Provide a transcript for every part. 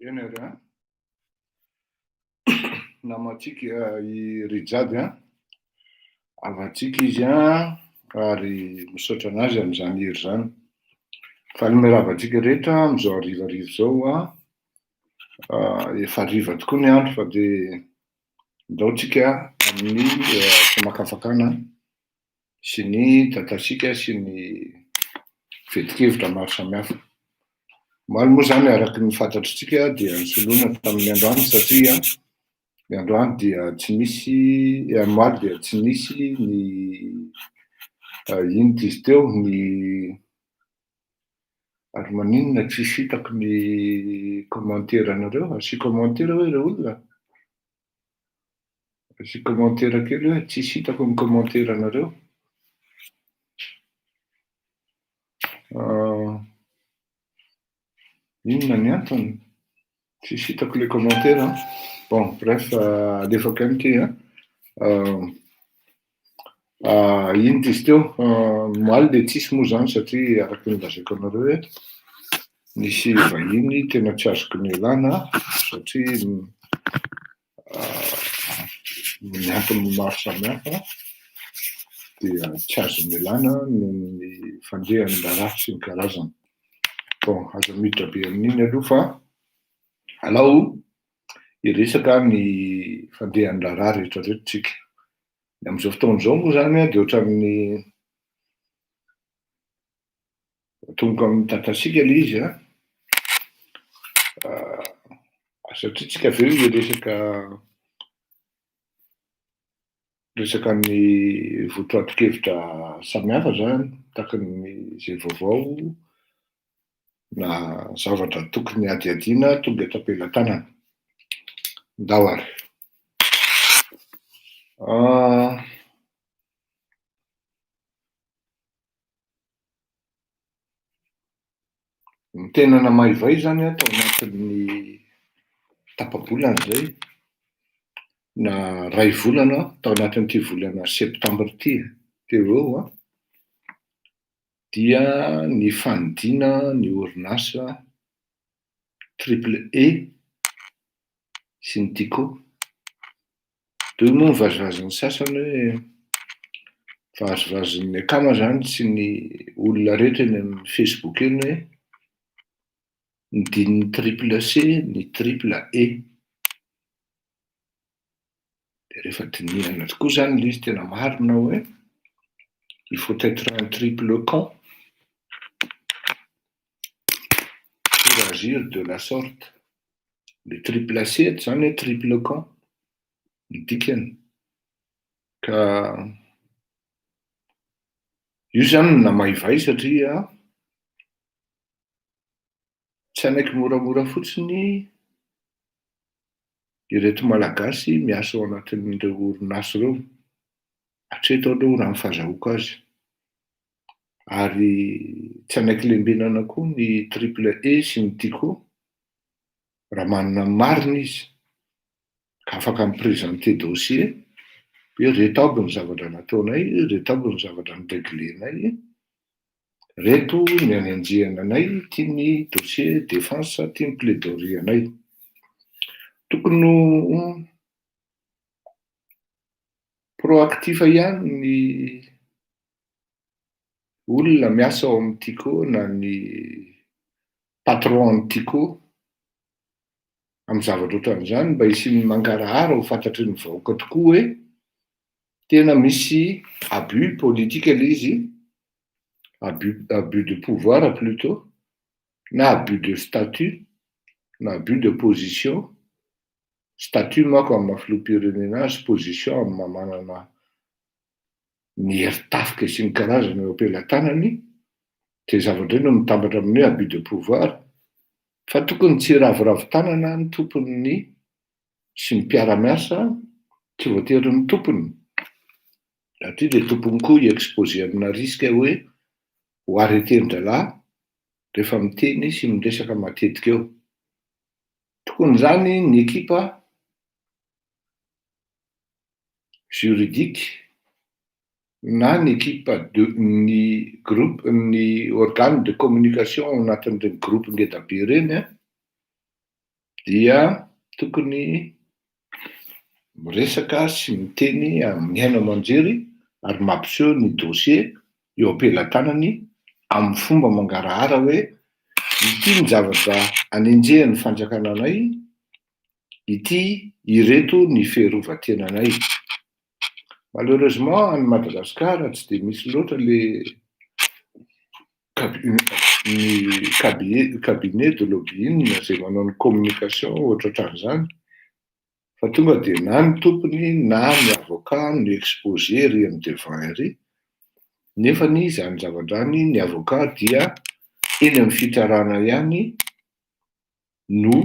Eny ary an. Namantsika i Rijady an. Havantsika izy an ary misaotra an'azy amin'izany hery izany. Valime ravantsika rehetra amin'izao harivariva izao an. Efa hariva tokoa ny andro fa dia ndaotsika amin'ny famakafakana sy ny datasika sy ny fetin-kevitra maro samihafa. Omaly moa izany araka ny fantatritsika dia nisoloana tamin'ny androany satria ny androany dia tsy nisy eh, omaly dia tsy nisy ny eh, inona izy teo ny ary maninona tsy hitako ny commentaire anareo, asio commentaire hoe ireo olona. Asio commentaire kely hoe tsisy hitako ny commentaire nareo. Ah, inona ny antony? Tsisy hitako le commentaire an. Bon, bref, alefako ihany ity an. Ah, ah, iny izy teo, ah, maly dia tsisy moa zany satria araka ny lazaiko anareo hoe nisy vahiny tena tsy azoko nialana satria noho ny antony maro samihafa dia tsy azo ialana noho ny fandrehan'ny raharaha sy ny karazany. Bon, aza miditra be amin'iny aloha fa alao hiresaka ny fandrehan'ny raharaha rehetrarehetra tsika. Ny amin'izao fotoana izao moa izany dia ohatran'ny Atomboka amin'ny dadatsika ilay izy an! satria tsika avy eo hiresaka resaka ny votoatin-kevitra samihafa izany, tahaka ny izay vaovao na zavatra tokony hadihadiana tonga eto am-pelatanana. Ndao ary. Ny tena namaivay izany an, tao anatin'ny tapa-bolana izay, na iray volana, tao anatin'ity volana septambra ity teo ho eo an, dia ny fanidiana ny orinasa Triple E sy ny Tiko Reo moa vazivazin'ny sasany hoe vazivazin'ny akama zany tsy ny olona rehetra eny amin'ny Facebook eny hoe ny dinin'ny triple C, ny triple E. Dia rehefa dinihana tokoa zany ilay izy tena marina hoe il faut être un triple con. pour agir de la sorte. Le triple C, eto izany hoe triple camp ny dikany. Ka io izany no namaivay satria tsy hanaiky moramora fotsiny ireto Malagasy miasa ao anatin'ireo orinasa ireo. Hatreto aloha raha ny fahazahoako azy. ary tsy hanaiky lembenana koa ny Triple E sy ny Tico raha manana ny marina izy ka afaka mi-presenter dossier hoe reto aby ny zavatra nataonay, reto aby ny zavatra ni-regler-nay, reto ny any anjihana anay, ity ny dossier défense, ity ny plaidorie anay. Tokony ho proactif ihany ny olona miasa ao amin'ny Tiko na ny patron an'ny Tiko amin'ny zavatra ohatran'izany mba hisian'ny mangarahara ho fantatry ny vahoaka tokoa hoe tena misy abus politika ilay izy, abus, abus de pouvoir plutot, na abus de statut, na abus de position, statut mako amin'ny maha filoham-pirenena azy, position amin'ny maha manana ny heritafika sy ny karazana eo am-pelatanany, dia zavatra no mitambatra amin'ny hoe abus de pouvoir, fa tokony tsy hiraviravy tanana ny tompon'ny sy ny mpiara-miasa, tsy voatery ny tompony, satria dia tompony koa hi-exposer amina risque hoe ho arreter-ndralahy rehefa miteny sy miresaka matetika eo. Tokony izany ny ekipa. juridique na ny ekipa de ny groupe ny organe de communication ao anatin'ireny groupe ngeda be ireny an dia tokony miresaka sy miteny amin'ny haino aman-jery ary mampiseho ny dossier eo am-pelatanany amin'ny fomba mangarahara hoe ity ny zavatra anenjehan'ny fanjakana anay ity ireto ny fiarovan-tenanay. Malheureusement any Madagascar tsy dia misy loatra le ny cabinet de lobbying izay manao ny communication ohatraohatran'izany fa tonga dia na ny tompony na ny avocat no exposé ery amin'ny devant ery nefa ny izany zava-drany ny avocat dia eny amin'ny fitsarana ihany no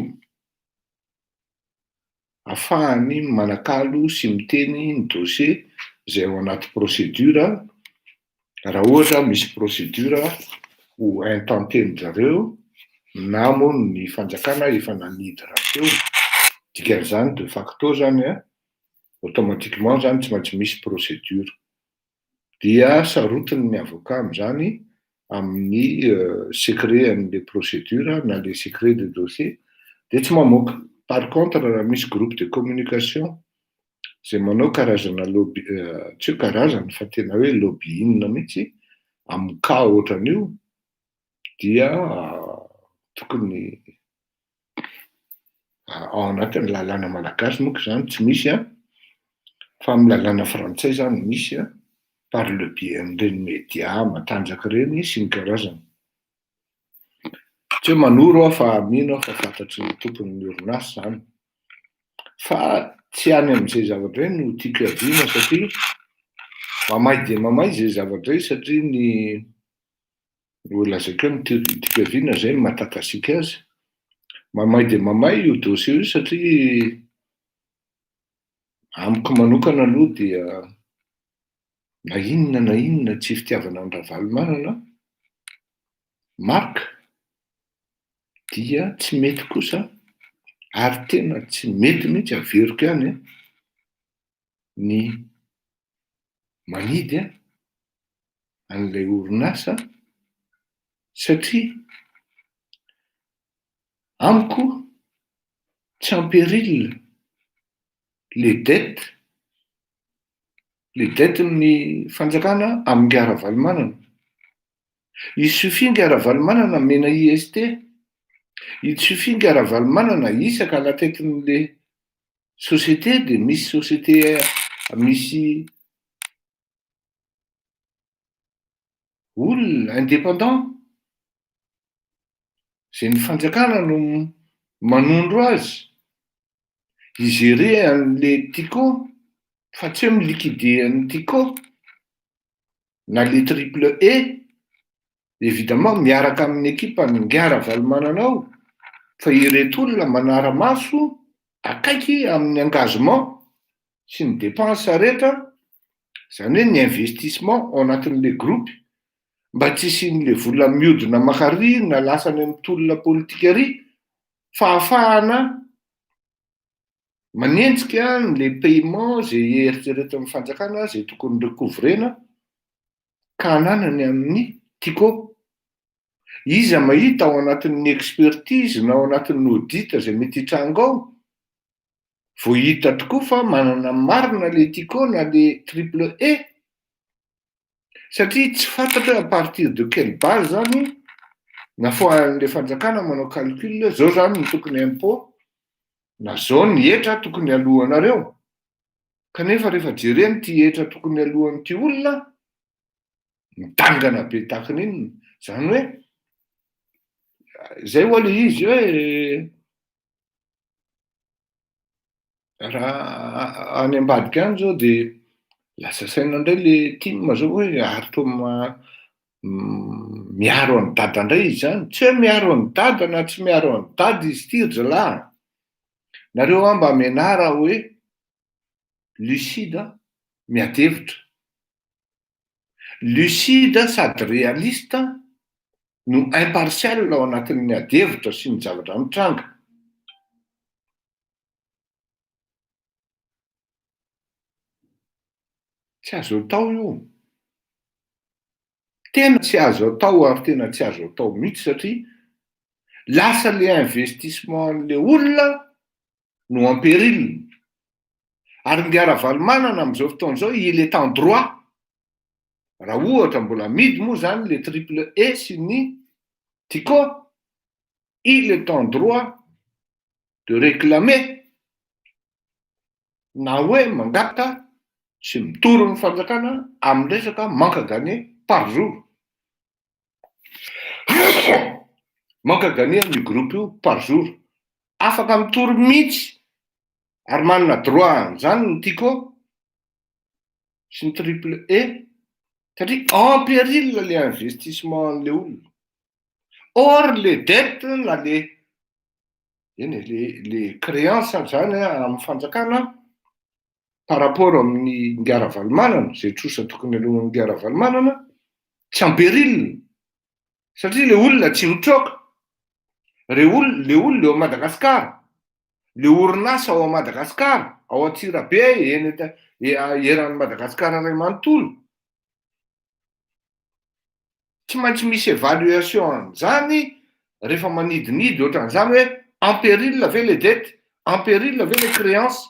afahany manakalo sy miteny ny dossier izay ao anaty procédure raha ohatra misy procédure ho intenté-ny zareo na moa ny fanjakana efa nanidy raha teo dikan'izany de facto zany automatiquement zany tsy maintsy misy procédure dia sarotiny ny avocat amin'izany amin'ny secret an'ilay procédure na le secret de dossier dia tsy mamoaka. Par contre raha misy groupe de communication izay manao karazana lobby, tsy hoe karazana fa tena hoe lobbying mihitsy amin'ny cas ohatran'io dia tokony ao anatin'ny lalàna malagasy monko izany tsy misy an, fa amin'ny lalàna frantsay izany no misy an, par le biais an'ireny media matanjaka ireny sy ny karazany. Tsy hoe manoro aho fa mino aho fa fantatry ny tompon'ny orinasa izany, fa tsy any amin'izay zavatra izay no tiako iadiana satria mamay dia mamay izay zavatra izay satria ny ho lazaiko ny teoriam-pikaviana izay ny maha-takasika azy. Mamay dia mamay io dossier io satria amiko manokana aloha dia na inona na inona tsy fitiavana an'i Ravalomanana, Marc, dia tsy mety kosa ary tena tsy mety mihitsy, averiko ihany an! ny manidy an'ilay orinasa satria amiko tsy en péril le dette, le dette ny fanjakana amin'ingahy Ravalomanana. Il suffit ingahy Ravalomanana amena IST, il suffit ingahy Ravalomanana isaka alatetin'ilay société dia misy société misy olona indépendant izay ny fanjakana no manondro azy higérer an'le Tiko fa tsy hoe mi-liquider an'i Tiko na le triple E, evidemment miaraka amin'ny ekipa ny Ingahy Ravalomanana ao, fa ireto olona manara-maso akaiky amin'ny engagement sy ny dépenses rehetra, izany hoe ny investissement ao anatin'ilay groupe, mba tsy hisian'ilay vola miodina maka ary na lasa any amin'ny tolona politika ary, fahafahana, Manenjika ny le paiement izay eritreretin'ny fanjakana izay tokony recouvrer-na ka ananany amin'ny Tiko. Iza mahita ao anatin'ny expertise na ao anatin'ny audit izay mety hitranga ao, vao hita tokoa fa manana marina le Tiko na le triple E? satria tsy fantatra hoe à partir de quelle base zany nafoahan'ilay fanjakana manao calcul hoe zao zany ny tokony impôt na zao ny hetra tokony alohanareo kanefa rehefa jereny ty hetra tokony alohan'ity olona midangana be takiny iny zany hoe zay hoale izy hoe Raha any ambadika any zao de lasa saina indray le tim zao hoe ary toa ma- miaro an'i dada indray izy zany, tsy hoe miaro an'i dada na tsy miaro an'i dada izy ity ry zalahy a! Nareo hoa mba menara hoe lucide an! Miady hevitra. Lucide sady realiste no impartial ao anatin'ny adihevitra sy ny zavatra mitranga. Tsy azo atao io. Tena tsy azo atao ary tena tsy azo atao mihitsy satria lasa le investissement an'le olona no en péril. Ary ny Ravalomanana amin'izao fotoana izao, il est en droit, raha ohatra mbola amidy moa izany le triple E sy ny Tiko, il est en droit de réclamer na hoe mangata sy mitory ny fanjakana amin'ny resaka manque à gagner par jour. Manque à gagner amin'io groupe io par jour. Afaka mitory mihitsy ary manana droit an'izany ny Tico sy ny Triple E satria en péril ilay investissement-n'ilay olona. Or ilay dette na ilay eny e, ilay créance àry izany amin'ny fanjakana par rapport amin'ny Ingahy Ravalomanana, izay trosa tokony alohan'ny Ingahy Ravalomanana, tsy en péril, satria le olona tsy mitroka, le olona eo Madagascar, le orinasa ao Madagascar, ao Antsirabe, eny eran'i Madagascar iray manontolo, tsy maintsy misy évaluation an'izany rehefa manidinidy ohatran'izany hoe en péril ve les dettes, en péril ve les créances,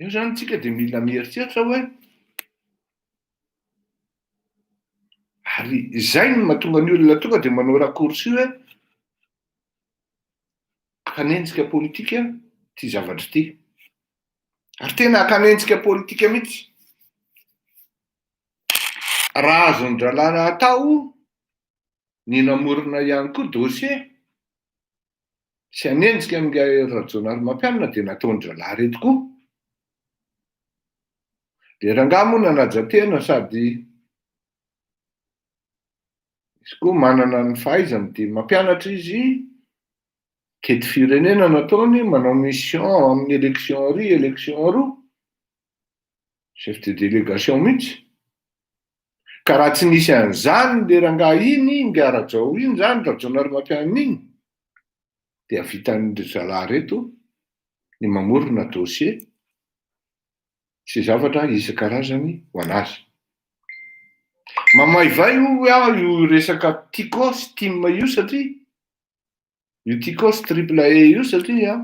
Eo izany tsika dia mila mieritreritra hoe ary izay no mahatonga ny olona tonga dia manao raccourci hoe akanenjika politika ity zavatra ity. Ary tena akanenjika politika mihitsy. Raha azon-dralana atao ny namorona ihany koa dossier sy hanenjika an'ingahy Rajaonarimampianina dia nataon-dRalahy ireto koa. Dia rangahy moa nanaja tena sady izy koa manana ny fahaizany dia mampianatra izy, kety firenena nataony, manao mission amin'ny élection iry, élection roa, Chef de délégation mihitsy. Ka raha tsy nisy an'izany le rangahy iny, ingahy Rajao iny izany, Rajaonarimampianina iny, dia vitan'ireo zalahy ireto ny mamorona dossier sy zavatra isan-karazany ho an'azy. Mamaivay hoy aho io resaka Tico sy Tim io satria Io Ticos Triple E io satria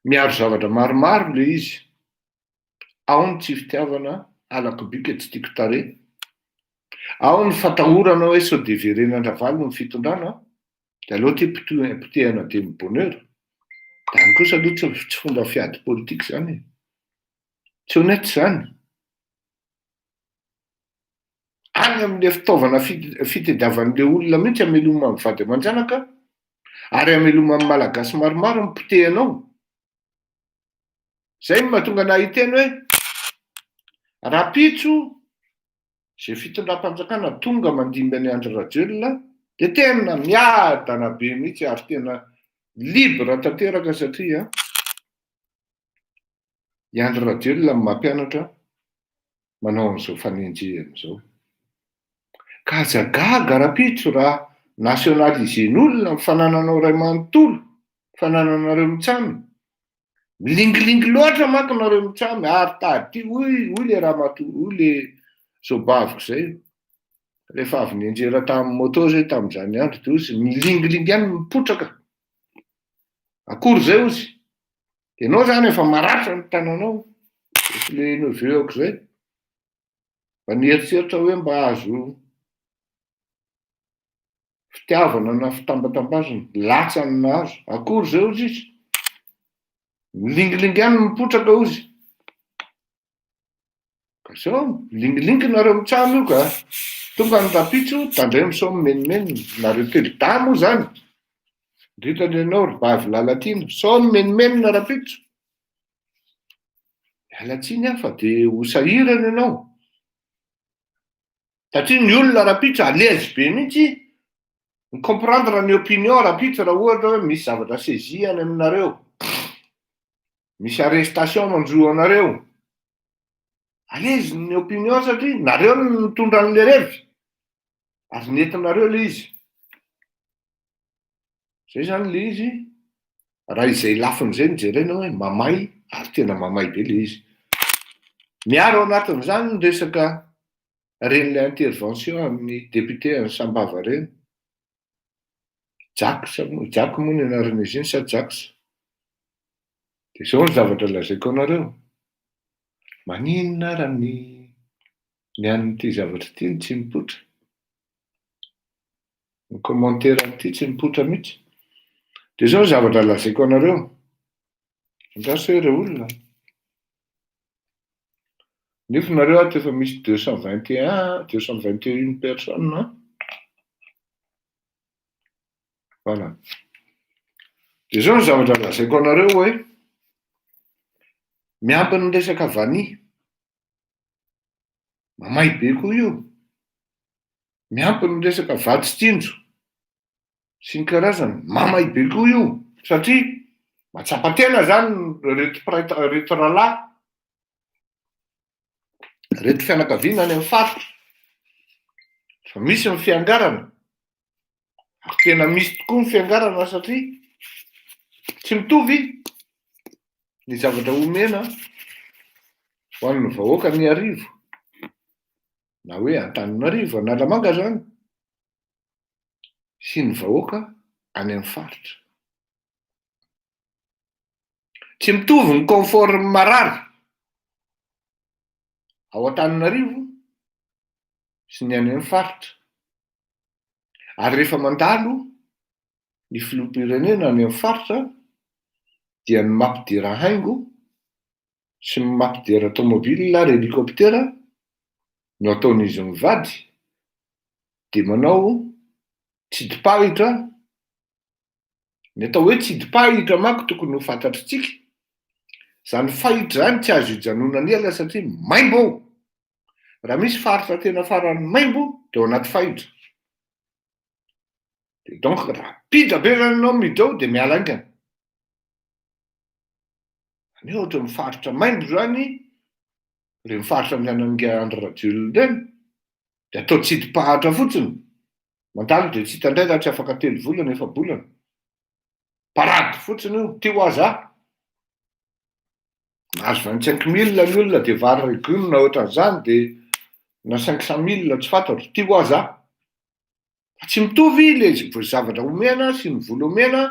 miaro zavatra maromaro le izy. Ao ny tsy fitiavana, halako bika, tsy tiako tarehy. Ao ny fatahorana hoe sao dia verenan-dRavalo ny fitondrana, dia aleo ty potehana dia mi bonheur. Izany kosa aloha tsy tsy fomba fiady politika izany e. Tsy honnête izany. any amin'ilay fitaovana fitediavan'ilay olona mihitsy ameloma amin'ny vady aman-janaka ary ameloma amin'ny malagasy maromaro ny potehanao zay no mahatonga anah hiteny hoe rapitso zay fitondram-panjakana tonga mandimby an'i Andry Rajoelina dia tena miadana be mihitsy ary tena libre tanteraka satria I Andry Rajoelina no mampianatra manao an'izao fanenjehana izao. Ka aza gaga rahampitso raha nationaliser-n'olona ny fanananao ray manontolo, fanananareo mitsamy. Milingilingy loatra manko nareo mitsamy, ary tady, hoy, hoy le ramatoa, hoy le zobaviko zay. Rehefa avy nianjera tamin'ny moto zay tamin'izany andro, dia hozy milingilingy ihany mipotraka. Akory zay hozy. Dia ianao izany efa maratra ny tananao, efa ilay neveu aok'izay. Mba nieritreritra hoe mba azo fitiavana na fitambatambazana, latsany nahazo. Akory izay ozy izy. Milingilingy any mipotraka ozy. Sao milingilingy nareo mitsam io ka. Tonga ny rapitso, tandremo sao mimenomenona. Nareo telo dahy moa zany. Indrindra ny anao ry bavy Lalatiana, sao mimenomenona rapitso. Miala tsiny aho fa dia ho sahirana ianao. Satria ny olona rapitso à l'aise be mihitsy mi comprendre ny opinion rapitso raha ohatra hoe misy zavatra saisie any aminareo. misy arrestation manjo anareo, alezy ny opinion satria nareo no nitondra an'le revy, ary nentinareo le izy, zay zany le izy, raha izay lafiny izay no jerenao hoe mamay, ary tena mamay be le izy, miaro ao anatin'izany ny resaka ren'le intervention an'ny député an'i sambava reny, Jax moa, Jack moa ny anaran'izy iny sa Jax? Dia izao ny zavatra lazaiko anareo, maninona ara ny ny an'ity zavatra ity no tsy mipoitra? Ny commentaire an'ity tsy mipoitra mihitsy. Dia izao ny zavatra lazaiko anareo, andraso hoe ireo olona, Nefa nareo ato efa misy deux cent vingt et un, deux cent vingt et une personnes an. Voilà. Dia izao ny zavatra lazaiko anareo hoe miampy ny resaka vanille. Mamay be koa io. Miampy ny resaka vatsy tsinjo. sy ny karazany mamay be koa io satria matsapa tena zany reto prait reto rahalahy reto fianakaviana any amin'ny faritra fa misy ny fiangarana ary tena misy tokoa ny fiangarana satria tsy mitovy ny zavatra omena ho an'ny vahoaka ny arivo na hoe antanina arivo analamanga zany sy ny vahoaka any amin'ny faritra. Tsy mitovy ny confort-n'ny marary ao Antananarivo sy ny any amin'ny faritra. Ary rehefa mandalo ny filoham-pirenena any amin'ny faritra dia ny mampidera haingo sy mamaky dera tomobil ary helikoptera no ataon'izy mivady dia manao tsidipahitra ny atao hoe tsidipahitra manko tokony ho fantatritsika izany fahitra izany tsy azo ijanonana ela satria maimbo ao raha misy faritra tena farany maimbo dia ao anaty fahitra dia donc raha pidra be izany ianao miditra ao dia miala haingana Any ohatra ny faritra maimbo izany, ireny faritra andehanan'ingahy Andry Rajoelina ireny, dia atao tsidipahatra fotsiny. Mandalo dia tsy hita indray raha tsy afaka telo volana, efa bolana. Parady fotsiny io, ty ho aza. Mahazo 25 mille ny olona dia vary legume na ohatran'izany dia na 500 mille tsy fantatro, ty ho aza. Tsy mitovy ilay zavatra omena sy ny vola omena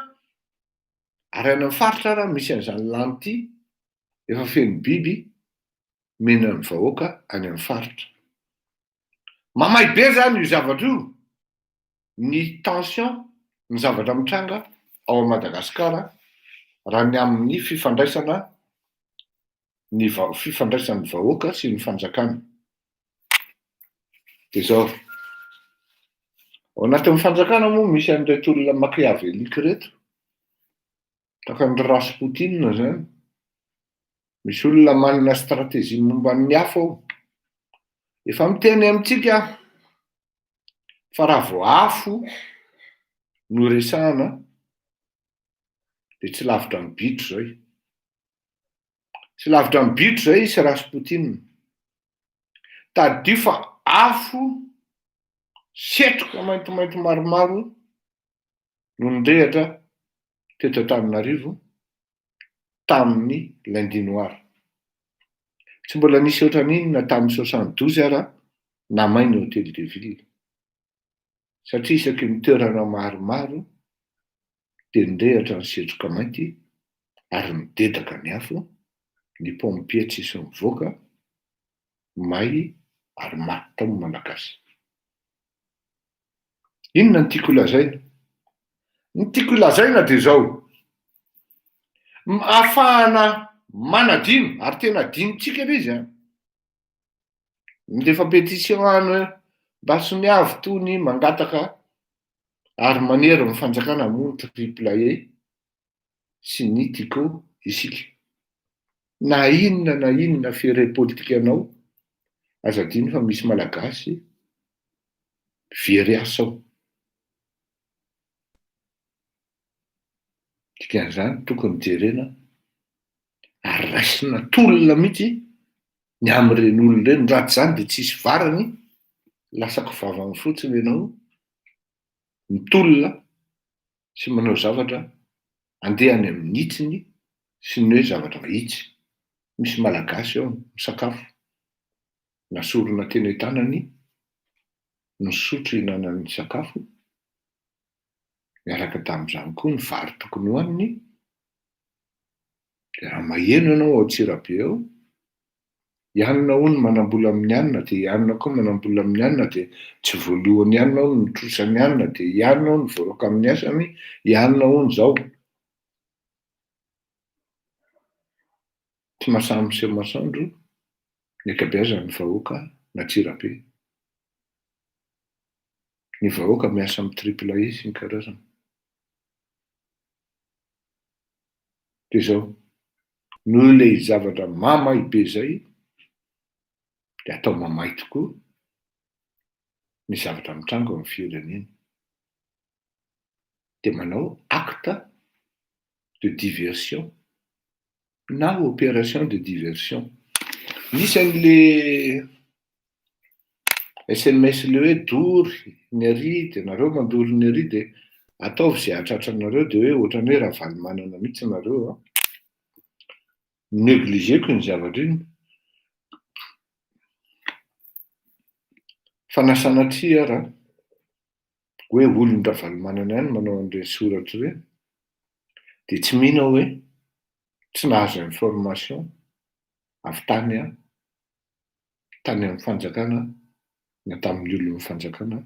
ary any amin'ny faritra ary misy an'izany lany ity efa feno biby mena ny vahoaka any amin'ny faritra. Mamay be zany io zavatra io ny tension ny zavatra mitranga ao Madagasikara raha ny amin'ny fifandraisana ny fifandraisan'ny vahoaka sy ny fanjakana. Dia izao, ao anatin'ny fanjakana moa misy an'ireto olona machiavélique ireto, tahaka ny Rasputin izany, misy olona manana stratégie momba ny hafa ao. Efa miteny amintsika aho fa raha vao afo no resahana dia tsy lavitra ny bitro izay. Tsy lavitra ny bitro izay i Rasputin. Tadidio fa afo setroka maintimainty maromaro no nirehatra teto Antananarivo tamin'ny lundi noir. Tsy mbola nisy ohatran'iny na tamin'ny soixante douze ara namay ny hôtel de ville. Satria isaky ny toerana maromaro dia nirehatra ny setroka mainty ary nidedaka ny afo, ny pompier tsisy nivoaka, may ary maty tao ny Malagasy. Inona no tiako holazaina? Ny tiako holazaina dia izao, afahana manadino, ary tena adinontsika ilay izy an! Mindefa pétition any hoe mba tsy miavy tony mangataka ary manery ny fanjakana hamono triple A sy ny Tico isika. Na inona na inona ferre politika anao, aza adino fa misy malagasy very asa ao. Dikan'izany tokony jerena ary raisina tolona mihitsy ny amin'ireny olona ireny, raha tsy izany dia tsy hisy varany, lasa kivavany fotsiny ianao, mitolona sy manao zavatra andeha any amin'ny hitsiny sy ny hoe zavatra vitsy. Misy Malagasy ao misakafo, nasorona teny an-tanany, nisotro hihinanany sakafo, Miaraka tamin'izany koa ny vary tokony hohaniny, dia raha maheno ianao ao Antsirabe ao, i anona hono manambola amin'ny anona, dia i anona koa manambola amin'ny anona, dia tsy voalohan'ny anona hono ny trosan'ny anona, dia i anona hono voaroaka amin'ny asany, i anona hono izao. Tsy mahasahy miseho masoandro ny ankabeazan'ny vahoaka an'Antsirabe. Ny vahoaka miasa amin'ny triple A sy ny karazany. Dia izao, noho ilay zavatra mamay be izay, dia atao mamay tokoa ny zavatra mitranga ao amin'ny firenena. dia manao acte de diversion na operation de diversion. Misy an'le sms le hoe dory ny ary dia nareo mandory ny ary dia ataovy izay hahatratra anareo dia hoe ohatran'ny hoe Ravalomanana mihitsy nareo an. Negligeko iny zavatra iny. Fa na sanatria ara. hoe olon'i Ravalomanana ihany manao an'ireny soratra ireny, dia tsy mino aho hoe tsy nahazo information avy tany an, tany amin'ny fanjakana na tamin'ny olon'ny fanjakana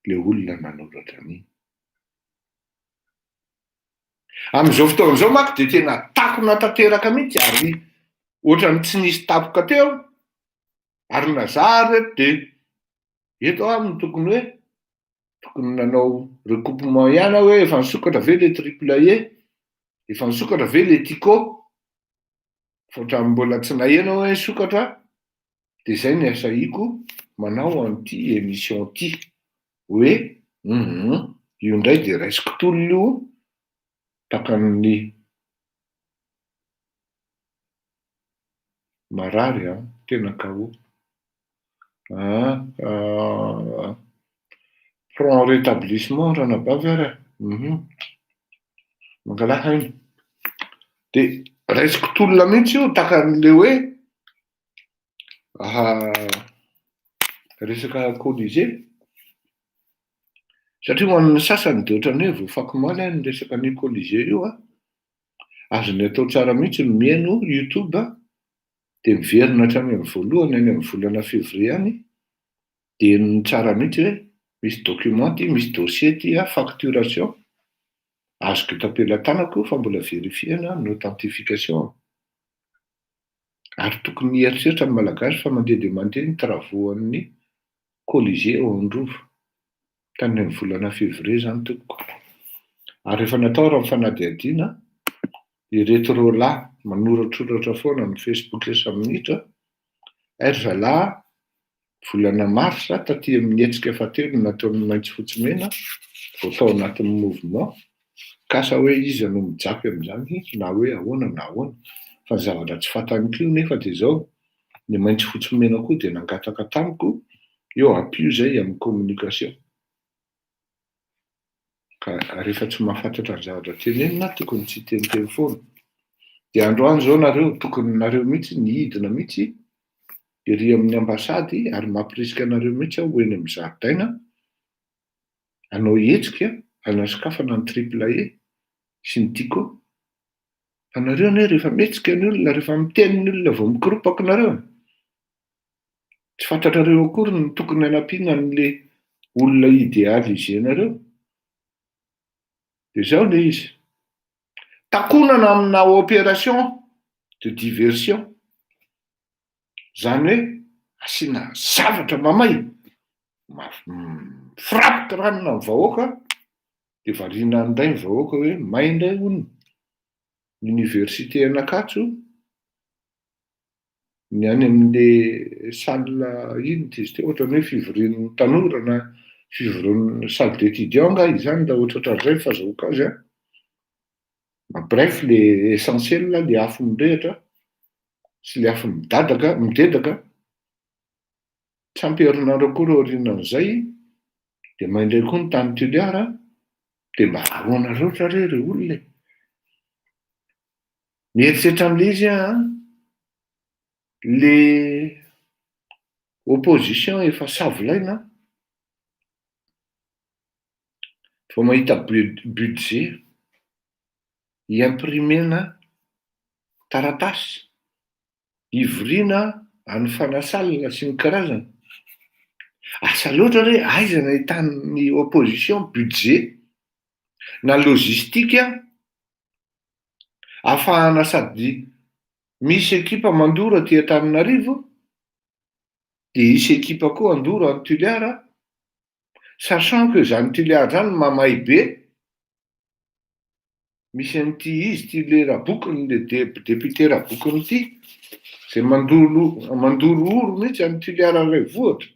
ilay olona nanoratra an'iny. Amin'izao fotoana izao manko dia tena takona tanteraka mihitsy ary ohatran'ny tsy nisy tampoka teo ary na zah ary eto dia Eto ary no tokony hoe tokony nanao recoupement ihany aho hoe efa nisokatra ve le triple E? Efa nisokatra ve le Tico? Fa ohatran'ny mbola tsy naheno aho hoe nisokatra dia izay no niasahiako manao an'ity emission ity hoe hum io indray dia raisiko tolona io takan'ny Marary an! tena KO. Ah! Prompt rétablissement ranabavy ary ah! Uhum. Mangalà aina. Dia raisiko tolona mihitsy io tahaka an'ilay hoe aha resaka colisée. Satria ho an'ny sasany dia ohatran'ny hoe voafakomaly an ny resaka an'io colisée io an! Azony atao tsara mihitsy ny mihaino youtube dia miverina hatrany amin'ny voalohany any amin'ny volana février any dia henony tsara mihitsy hoe misy document ity, misy dossier ity a, facturation azoko tapela-tanako io fa mbola vérifier na ny authentification. ary tokony hieritreritra ny Malagasy fa mandeha dia mandeha ny travaux an'ny Colisée ao Androvo, tany amin'ny volana février izany tompoko, ary efa natao raha ny fanadihadiana, ireto roa lahy manoratroratra foana amin'ny Facebook isan-minitra, aiza lahy Volana marsa taty amin'ny hetsika fahatelo nataon'ny maitso fotsy mena vao tao anatin'ny mouvement kasa hoe iza no mijapy amin'izany na hoe ahoana na ahoana fa ny zavatra tsy fantany koa nefa dia izao ny maitso fotsy mena koa dia nangataka tamiko eo ampio izay amin'ny communication Ka rehefa tsy mahafantatra ny zavatra tenenina aho tokony tsy hiteniteny foana. Dia androany izao nareo tokony nareo mihitsy ny hidina mihitsy ery amin'ny ambasady ary mampirisika anareo mihitsy aho ho eny amin'ny zaridaina hanao hetsika hanasokafana ny triple E sy ny Tiko. Fa nareo anie rehefa mihetsika ny olona, rehefa miteny ny olona vao mikoropaka nareo. Tsy fantatrareo akory ny tokony hanampiana an'le olona ideal izenareo. De zao le izy. Takonana amina operation de diversion. Zany hoe asiana zavatra mamay, frappe ranona ny vahoaka de variana an'ndray ny vahoaka hoe may ndray hono ny université an'Ankatso ny any amin'le salle inn ty izy ty ohatrany hoe fivorian'ny tanora na fivorian'ny salle d'étudiant angaha izany raha ohatra ohatran'izay ny fazahoako azy an! en bref le essentiel le afo mirehitra sy le afo midadaka, midedaka tsy ampy herinandro akory aorianan'izay dia may indray koa ny tany Toliara dia mba ahoana loatra re ry olona e! Mieritreritra an'ilay izy aho an! Ilay opposition efa savolaina an! Vao mahita budget i-imprimer-na taratasy, ivoriana any Fanasalina sy ny karazany. Asa loatra re, aiza no ahitan'ny opposition budget na logistique afahana sady misy ekipa mandoro aty Antananarivo dia hisy ekipa koa handoro any Tuliara sachant que izany Tuliara izany mamay be misy an'ity izy ity le rabokiny le député rabokiny ity izay mandoro mandoro oro mihitsy any Tuliara renivohitra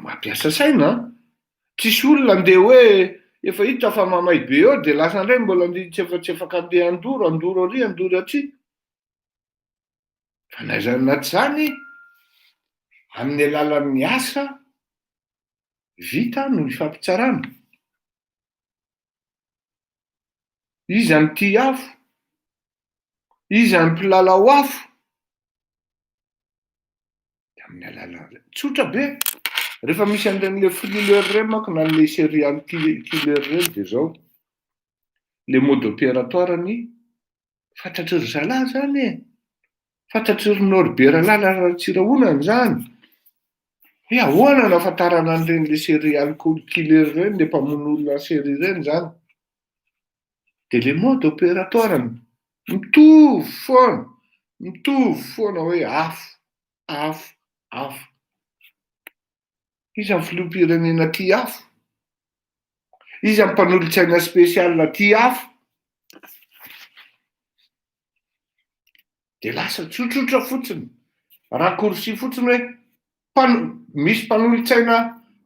Mampiasa saina an! Tsisy olona andeha hoe efa hita fa mamay be eo dia lasa indray mbola andeha hitsefatsefaka andeha handoro, handoro ary handoro aty. Fa na izany na tsy izany, amin'ny alalan'ny asa vita no ifampitsarana. Iza no tia afo? Iza no mpilalao afo? Dia amin'ny alalan'izay. Tsotra be. Rehefa misy an'ireny le thriller ireny manko na le serial killer ireny dia izao. Le mode opératoire-ny Fantatry ry zalahy zany e! Fantatry ry Norbe Ralala Ratsirahonana zany! Hoe ahoana no ahafantarana an'ireny le serial killer ireny, le mpamono olona en série ireny zany? Dia le mode opératoire ny mitovy foana, mitovy foana hoe afo, afo, afo. Iza ny filoham-pirenena tia afo? Iza ny mpanolotsaina spécial tia afo? Dia lasa tsotsotra fotsiny, raccourci fotsiny hoe mpan- misy mpanolotsaina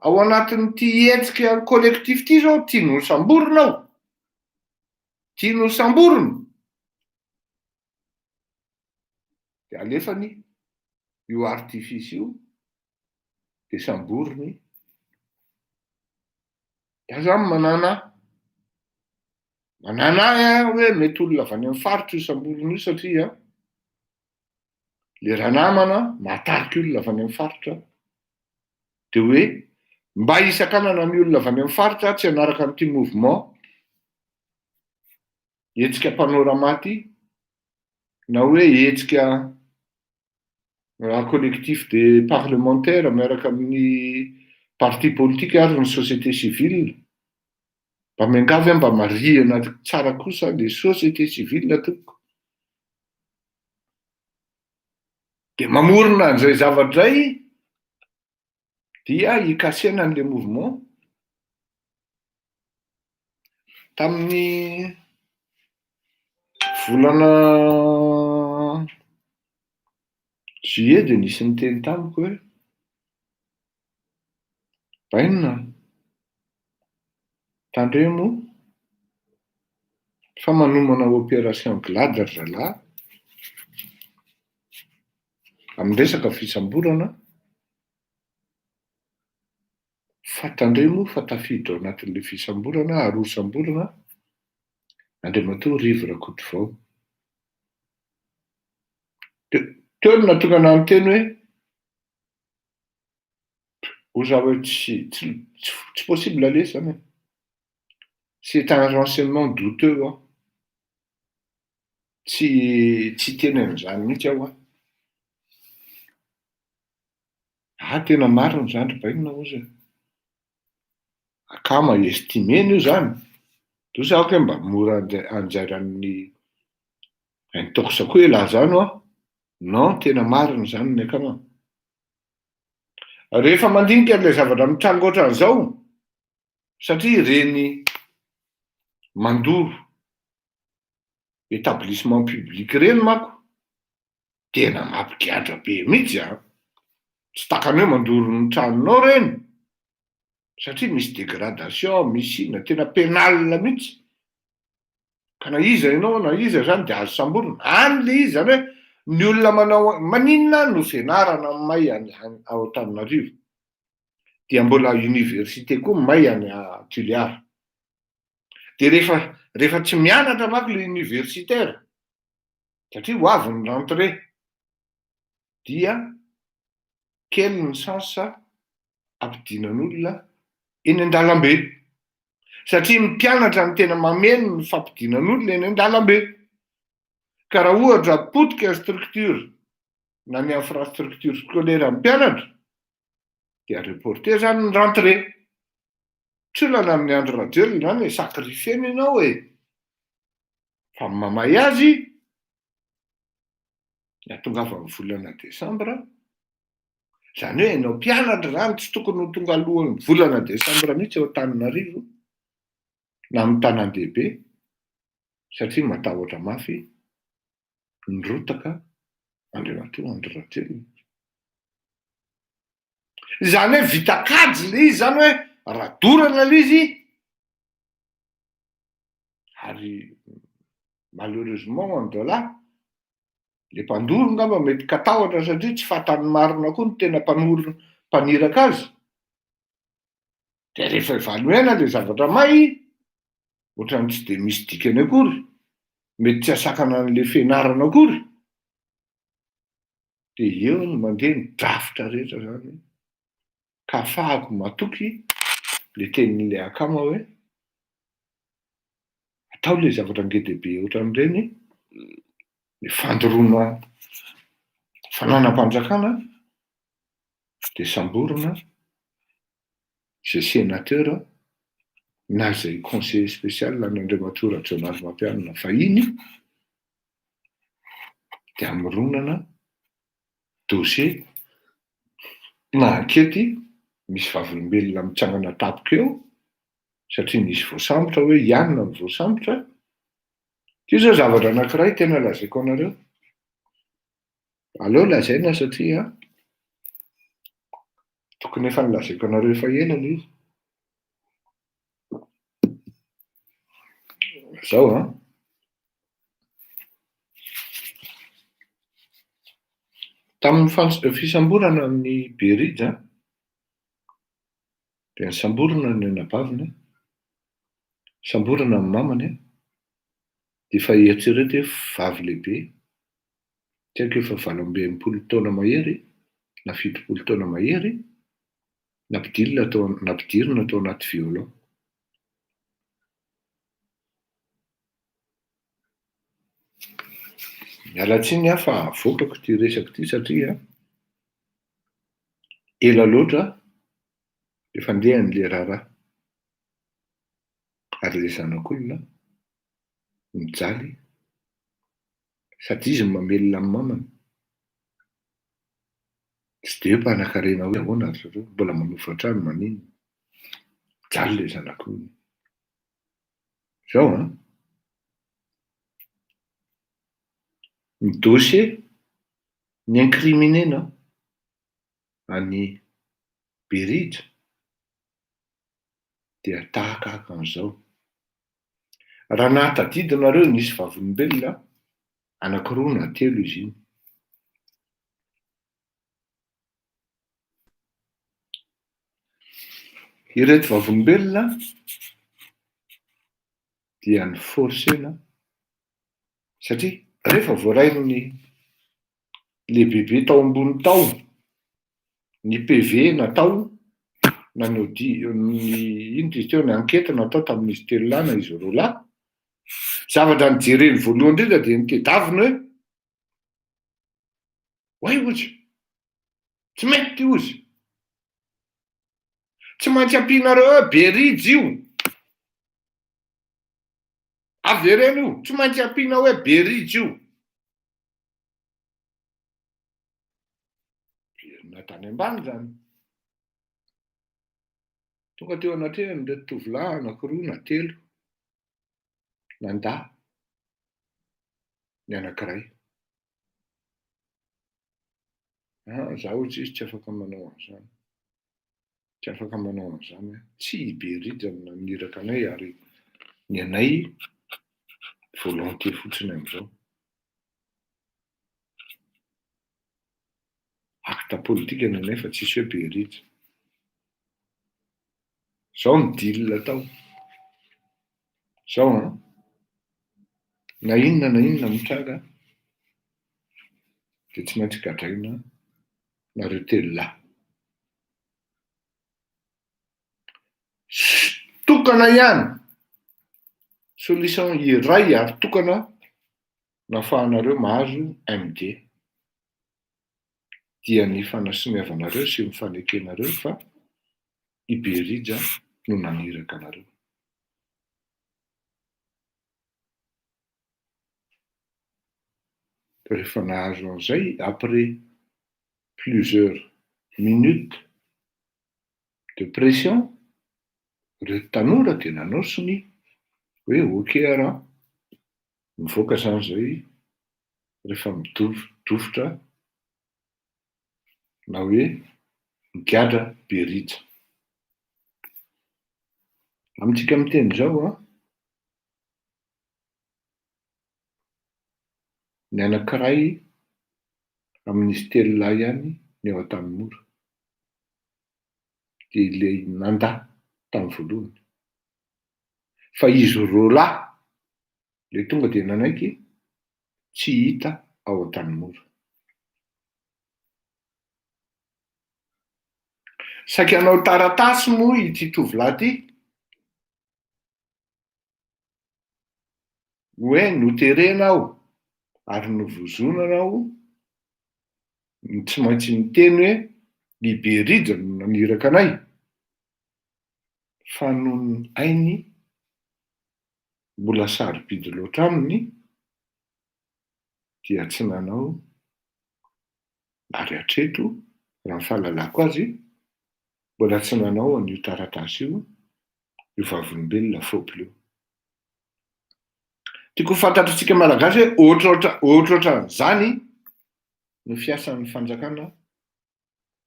ao anatin'ity hetsika collectif ity izao tiany hosamborina aho, tiany hosamborina. Dia alefany io artifice io dia samboriny dia aza ny manana manana ahy a hoe mety olona avy any amin'ny faritra io samboriny io satria le ranamana mahatarika olona avy any amin'ny faritra dia hoe mba hisakanana ny olona avy any amin'ny faritra tsy hanaraka an'ity mouvement hetsika mpanora maty na hoe hetsika en collectif des parlementaires miaraka amin'ny parti politique ary ny société civile mba miangavy aho mba marihana tsara kosa ny société civile tompoko dia mamorona an'izay zavatra izay dia hikasena an'ilay mouvement. Tamin'ny volana juillet dia nisy niteny tamiko hoe bainina tandremo fa manomana operation glad ry zalahy amin'ny resaka fisamborana fa tandremo moa fa tafiditra ao anatin'ilay fisamborana ary hosamborana Andriamatoa Rivo Rakotovao. Teo no natokana amin'ny teny hoe ho za hoe tsy tsy possible aleha izany. C'est un renseignement douteux. Tsy tsy hiteny an'izany mihitsy aho an! Ah, tena marina izany ry Bainina hozy an! Akama estimena io izany, toa sa aoka hoe mba mora anjairan'ny intox koa elah izany hoa? Non, tena marina izany ny akama. Rehefa mandinika an'ilay zavatra mitranga ohatran'izao, satria ireny mandoro Etablissement public ireny manko tena mampigadra be mihitsy an! Tsy takany hoe mandoro ny tranonao ireny satria misy dégradation, misy inona, tena pénale mihitsy. Ka na iza ianao na iza izany dia azo samborina. Any ilay izy, izany hoe ny olona manao, maninona no fianarana no may any ao Antananarivo dia mbola université koa may any Toliara? Dia rehefa rehefa tsy mianatra manko ilay universitaire, satria ho avy ny rentrée, dia kely ny chance hampidinan'olona eny an-dalambe. Satria ny mpianatra no tena mameno ny fampidinan'olona eny an-dalambe. Ka raha ohatra potika ny structure na ny infrastructure scolaire amin'ny mpianatra, dia reporter zany ny rentrée. Tsy olana amin'ny Andry Rajoelina izany e, sacrifier-ny ianao e. Fa ny mamay azy, ny atongavan'ny volana desambra, izany hoe ianao mpianatra izany tsy tokony ho tonga alohan'ny volana desambra mihitsy eo Antananarivo na amin'ny tanàn-dehibe satria matahotra mafy nirotaka Andriamatoa Andry Rajoelina. Izany hoe vita kajy ilay izy izany hoe radorana ilay izy ary malheureusement en Dola le mpandoro ngamba mety katahotra satria tsy fatan'ny marina koa ny tena mpanoro mpaniraka azy dia rehefa evaluena le zavatra may ohatrany tsy dia misy dikany akory mety tsy asakana an'le fianarana akory dia eo no mandeha ny drafitra rehetra zany ka afahako matoky le tenin'le akama hoe atao le zavatra ngedehibe ohatran'ireny ny fandoroana fananam-panjakana dia samborina izay sénateur na izay conseiller spécial an'Andriamatoa Rajaonary Mampianina vahiny dia hamoronana dossier na ankety misy vavolombelona mitsangana tampoka eo satria nisy voasambotra hoe ianona no voasambotra, ity izao zavatra anankiray tena lazaiko anareo. Aleo lazaina satria tokony efa nolazaiko anareo efa ela ilay izy. Izao an. Tamin'ny fans- fisamborana amin'ny Berija dia nisamborana ny anabaviny, nisamborana ny mamany dia efa eritrereto hoe vavy lehibe tsy haiko efa valo amby enimpolo taona mahery na fitopolo taona mahery, nampidirina tao nampidirina tao anaty violon. Miala tsiny aho fa avokako ity resako ity satria ela loatra efa ndeha an'ilay raharaha. Ary ilay zanak'olona mijaly Sady izy no mamelona ny mamany. Tsy dia hoe mpanakarena hoe ahoana ry zareo, mbola manofa trano maninona. Mijaly ilay zanako hono. Izao an! Ny dossier ni-incriminer-na an'i Berija dia tahaka an'izao. Raha nahatadidy nareo nisy vavolombelona anakiroa na telo izy iny. Ireto vavolombelona dia ny forsena satria rehefa voarain'ny lehibebe tao ambony tao ny PV natao na ny odi ny inona izy teo ny ankety natao tamin'izy telo lahy na izy roa lahy. Zavatra nijereny voalohany indrindra dia ny tedaviny hoe Oay ozy, tsy mety ozy. Tsy maintsy ampianareo hoe berijy io. Avereno io, tsy maintsy ampiana hoe berijy io. Verina tany ambany izany. Tonga teo anatrehan'ny ireto tovolahy anankiroa na telo, nandà ny anankiray. Ah, zaho tsy izy tsy afaka manao an'izany. tsy afaka manao an'izany hoe tsy i Behirijah no naniraka anay ary ny anay volonté fotsiny amin'izao. Acte politique ny anay fa tsisy hoe Behirijah. Izao ny deal atao. Izao an, na inona na inona mitranga dia tsy maintsy gadraina nareo telo lahy. Tokana ihany, solution iray ary tokana no afahanareo mahazo MD dia ny fanasoniavanareo sy ny fanekenareo fa i Berija no naniraka anareo. Rehefa nahazo an'izay, après plusieurs minutes de pression, ireto tanora dia nanao sonia hoe ok ara, mivoaka izany izay rehefa midofodofitra na hoe migadra be rija. Amintsika miteny izao an! Ny anankiray amin'izy telo lahy ihany no eo Antanimora, dia ilay nandà tamin'ny voalohany. Fa izy roa lahy ilay tonga dia nanaiky tsy hita ao Antanimora. Saika hanao taratasy moa ity tovolahy ity. hoe noterena aho ary novozonana aho no tsy maintsy miteny hoe ny be rija no naniraka anay fa noho ny ainy mbola sarobidy loatra aminy dia tsy nanao ary hatreto, raha ny fahalalako azy, mbola tsy nanao an'io taratasy io io vavolombelona fôpl io. Tiako ho fantatry tsika Malagasy hoe ohatraohatra ohatraohatran'izany no fiasan'ny fanjakana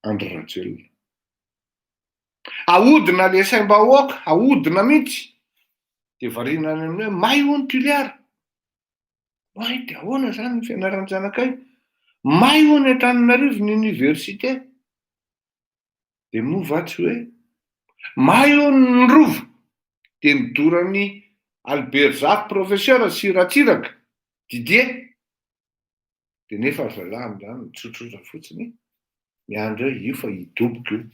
Andry Rajoelina. Ahodina le saim-bahoaka, ahodina mihitsy, dia variana any amin'ny hoe may hono Tuliara. May dia ahoana izany ny fianaran'ny zanakay? May hono eto Antananarivo ny oniversite. Dia moa va tsy hoe may hono ny rova dia midoran'ny Alberzafy professeur sy Ratsiraka, Didier. Dia nefa ry zalahy amin'izany mitsotrosa fotsiny e. Miandry hoe io fa hidoboka io.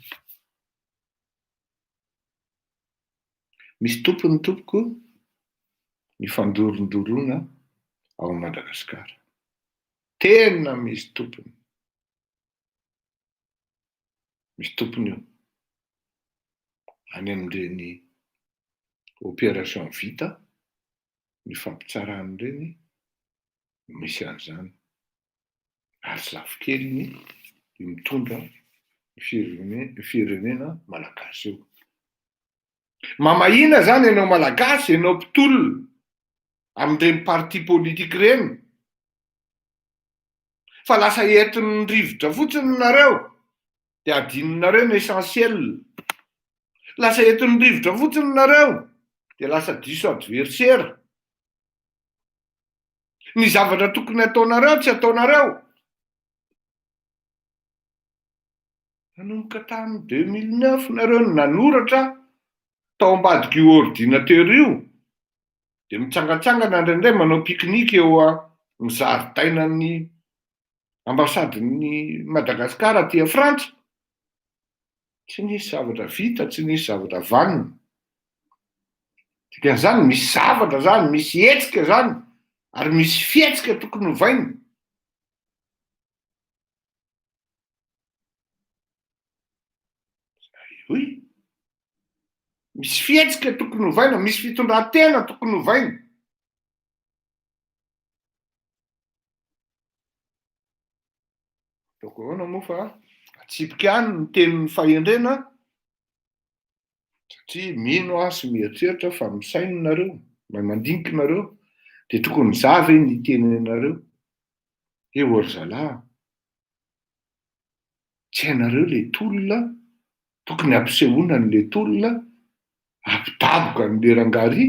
Misy tompony tompoko ny fandorondoroana ao Madagascar. Tena misy tompony. Misy tompony io. Any amin'ireny opération vita, ny fampitsarana ireny, misy an'izany ary tsy lafo kely ny mitondra ny firenena malagasy eo. Mamahina zany ianao malagasy, ianao mpitolona amin'ireny parti politique ireny fa lasa entin'ny rivotra fotsiny nareo dia adinonareo ny essentiel. Lasa entin'ny rivotra fotsiny nareo dia lasa diso adversaire. ny zavatra tokony ataonareo tsy ataonareo nanomboka tamin'ny deux mille neuf nareo no nanoratra tao ambadik'io ordinateur io dia mitsangantsangana indraindray manao pique-nique eo amin'ny zaridainan'ny ambasadin'ny Madagascar aty a Frantsa, tsy nisy zavatra vita, tsy nisy zavatra vanona, dikan'izany misy zavatra zany, misy hetsika zany, ary misy fihetsika tokony hovaina. Oui, misy fihetsika tokony hovaina, misy fitondran-tena tokony hovaina. Ataoko ahoana moa fa atsipiko ihany ny tenin'ny fahendrena satria mino aho sy mieritreritra fa misaina nareo, na mandinika nareo, dia tokony za ve ny tenenareo? He o ry zalahy, tsy hainareo le tolona, tokony ampisehoana an'le tolona, ampidaboka an'le rangaria,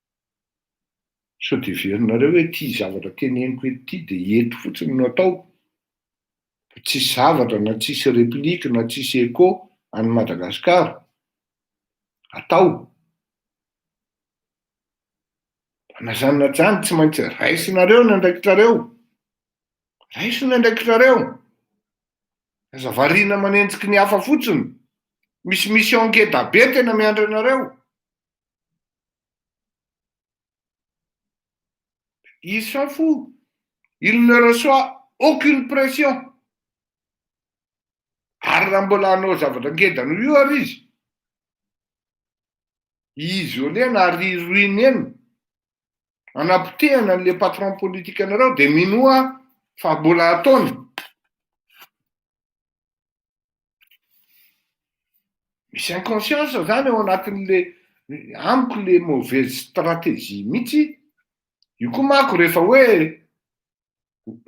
Sao dia heverinareo hoe ity zavatra teneniko eto ity dia eto fotsiny no atao? Fa tsisy zavatra na tsisy replique na tsisy echo any Madagascar atao? Fa na zany na zany tsy maintsy raisinareo ny andraikitrareo, raiso ny andraikitrareo, aza variana manenjiky ny hafa fotsiny, misy mission ngeda be tena miandry anareo. Il s'en fout. Il ne reçoit aucune pression. Ary raha mbola hanao zavatra ngeda noho io ary izy, hi-isoler-na ary hi-ruiner-na, hanapotehana an'ilay patron politique anareo dia minoa fa mbola ataony. Misy inconscience zany ao anatin'le amiko le mauvaise stratégie mihitsy, io koa manko rehefa hoe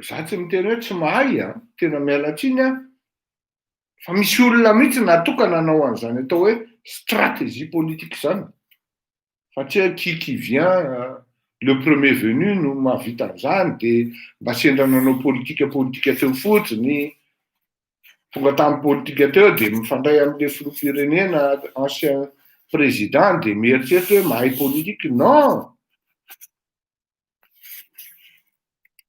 za tsy miteny hoe tsy mahay a, tena miala tsiny a, fa misy olona mihitsy natokana hanao an'izany atao hoe stratégie politique zany, fa tsy hoe qui qui vient le premier venu no mahavita an'izany dia mba sendra nanao politika politika teo fotsiny tonga tamin'ny politika teo dia mifandray amin'ilay filoham-pirenena ancien président dia mieritreritra hoe mahay politique non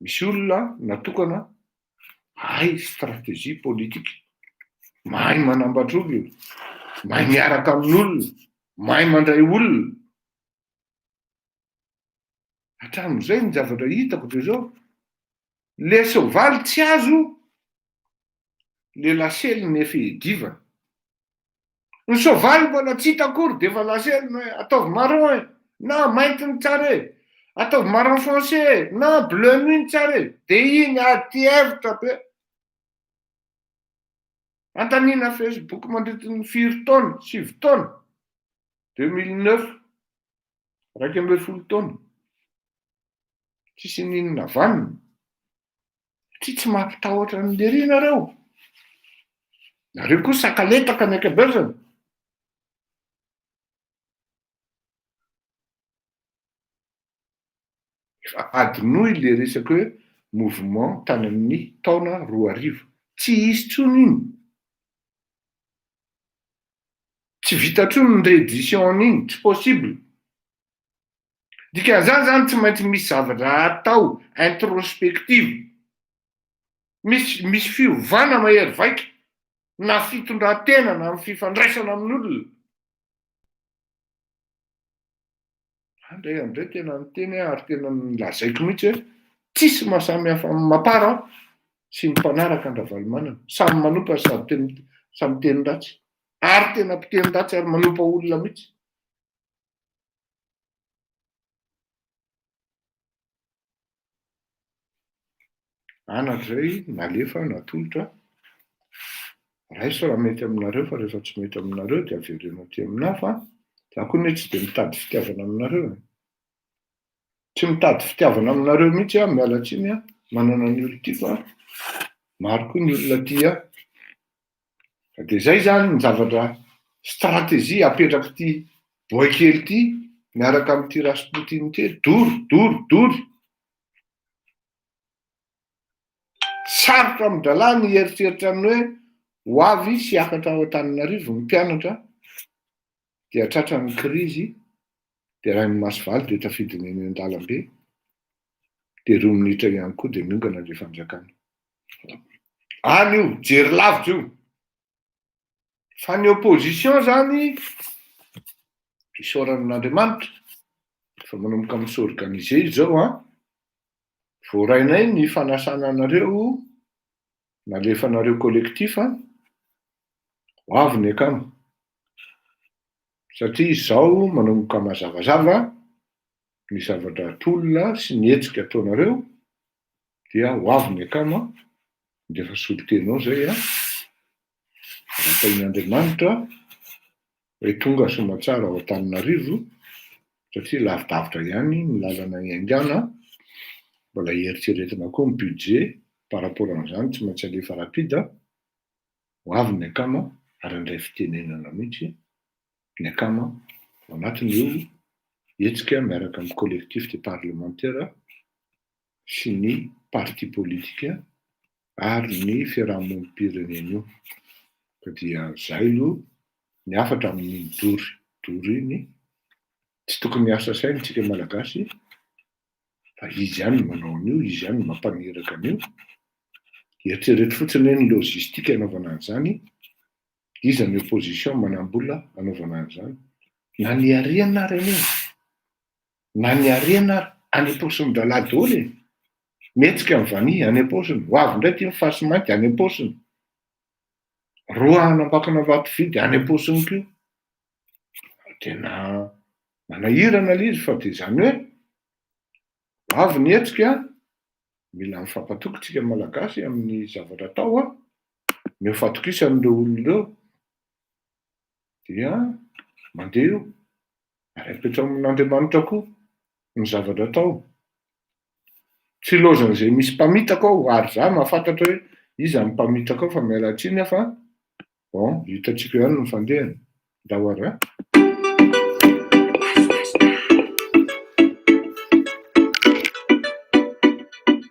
Misy olona natokana mahay stratégie politique, mahay manambatra olona, mahay miaraka amin'olona, mahay mandray olona. Hatramin'izay ny zavatra hitako dia zao, le soavaly tsy azo, le lasely ny efa edivana. Ny soavaly mbola tsy hita akory dia efa lasa ela hoe ataovy marron e! na mainty no tsara e! ataovy marron foncé e! na bleu nuit no tsara e! dia iny aty hevitra be. Antanina Facebook mandritra ny firy taona, sivy taona, deux mille neuf, iraika ambin'ny folo taona, tsisy ninona vanona. Satria tsy mampitahotra an'i Lery nareo. Nareo koa sakaletaka ny ankabezany. Efa adinoy le resaka hoe mouvement tany amin'ny taona roa arivo. Tsy hisy tsony iny. Tsy vita tsony ny reddition iny, tsy possible. Dikan'izany izany tsy maintsy misy zavatra atao introspective, misy misy fiovana mahery vaika na fitondran-tena na amin'ny fifandraisana amin'olona. Andray andray tena niteny ary tena nilazaiko mihitsy hoe tsisy mahasamy hafa amin'ny mapara sy ny mpanaraka an-dRavalomanana, samy manompa sady teny samy miteny ratsy ary tena mpiteny ratsy ary manompa olona mihitsy. Anatra izay nalefa natolotra, raiso raha mety aminareo fa rehefa tsy mety aminareo dia avereno aty aminà fa za koa anie tsy dia mitady fitiavana aminareo e. Tsy mitady fitiavana aminareo mihitsy aho, miala tsiny a, manana ny olon-tiako a, maro koa ny olona tia ahy. Dia izay izany ny zavatra stratégie apetrak'ity boay kely ity miaraka amin'ity Rasputin ity, dory, dory, dory. Sarotra amin-drahalahy ny hieritreritra ny hoe ho avy sy hiakatra ao Antananarivo ny mpianatra dia tratran'ny krizy dia rain'ny maso valo dia tafidiny eny an-dalambe dia roa minitra ihany koa dia miongana ilay fanjakana. Any io, jery lavitra io. Fa ny opposition zany, isaorana an'Andriamanitra, fa manomboka mi s'organiser izy zao an, voarainay ny fanasana anareo, nalefanareo collectif an, ho avy ny akama. Satria izao manomboka mazavazava ny zava-dratolona sy ny hetsika ataonareo, dia ho avy ny akama dia efa solontenao zay a, Ratahin'Andriamanitra hoe tonga somatsara ao Antananarivo satria lavidavitra ihany ny lalana hiaingàna, mbola hieritreretina koa ny budget par rapport an'izany tsy maintsy alefa rapide, ho avy ny akama ary handray fitenenana mihitsy ny akama ao anatin'io hetsika miaraka amin'ny collectif des parlementaires sy ny parti politika ary ny fiarahamonim-pirenenio ka dia zay lo ny hafatra amin'iny dory dory iny tsy tokony hiasa saina tsika malagasy fa izy ihany no manao an'io izy ihany no mampaniraka an'io eritrereto fotsiny hoe ny logistique anaovana an'izany iza ny opposition manambola anaovana an'izany na niariana ary anie Na ny harena ary, any am-paosin'ny rahalahy daholo e! Mihetsika ny vanille, any am-paosiny. Ho avy indray ity ny fasy mainty, any am-paosiny. Roa hanambakana vato vidy, any am-paosiny koa. Tena manahirana ilay izy fa dia izany hoe, ho avy ny hetsika, mila mifampatoky isika Malagasy amin'ny zavatra atao an! Ny ho fatokisan'ireo olona ireo dia mandeha eo. Miraikitra amin'Andriamanitra koa ny zavatra atao. Tsy ilaozan'izay misy mpamitaka ao, ary za mahafantatra hoe iza ny mpamitaka ao fa miala tsiny aho fa bon hitantsika ihany ny fandehany. Ndao ary a!